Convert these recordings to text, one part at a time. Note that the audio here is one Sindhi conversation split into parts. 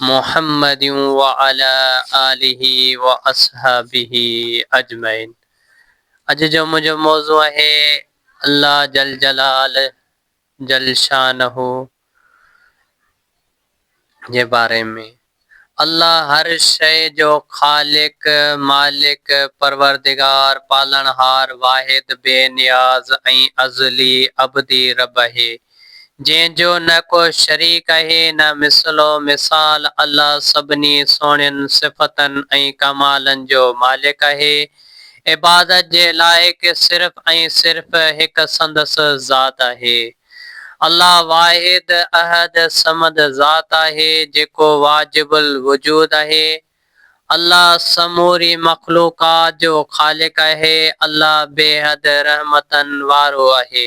محمد وعلي آله واصحابه اجمعين اڄ جو منهنجو موضوع آهي الله جل جلال جل شانه جي باري ۾ الله هر شيء جو خالق مالڪ پروردگار پالڻهار واحد بي نياز ۽ ازلي ابدي رب اهي جنهن جو نه ڪو شريڪ اهي نه مثل و مثال الله سڀني سهڻين صفتن ۽ ڪمالن جو مالڪ اهي عبادت جي لائق صرف ۽ صرف هڪ سندس ذات اهي الله واحد احد صمد ذات آهي جيڪو واجب الوجود اهي الله سموري مخلوقات جو خالق اهي الله بيحد رحمتن وارو اهي.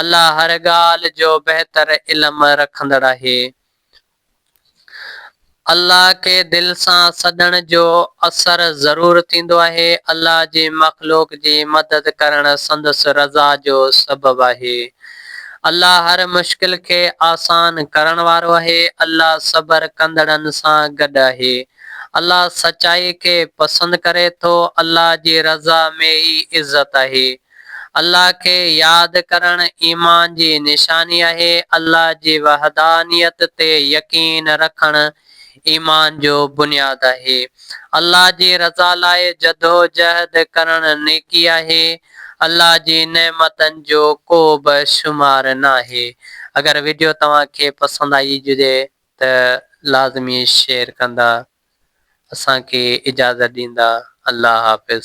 الله هر ڳالهه جو بهتر علم رکندڙ آهي. الله کي دل سان سڏڻ جو اثر ضرور ٿيندو آهي. الله جي مخلوق جي مدد ڪرڻ سندس رضا جو سبب آهي. الله هر مشڪل کي آسان ڪرڻ وارو آهي. الله صبر ڪندڙن سان گڏ آهي. الله سچائي کي پسند ڪري ٿو. الله جي رضا ۾ ئي عزت آهي. الله کي ياد ڪرڻ ايمان جي نشاني آهي. الله جي وحدانيت تي يقين رکڻ ايمان جو بنياد آهي. الله جي رضا لاء جدوجهد ڪرڻ نيڪي آهي. الله جي نعمتن جو ڪو به شمار ناهي. اگر وڊيو توهان کي پسند آئي هجي ته لازمي شيئر ڪندا اسان کي اجازت ڏيندا الله حافظ.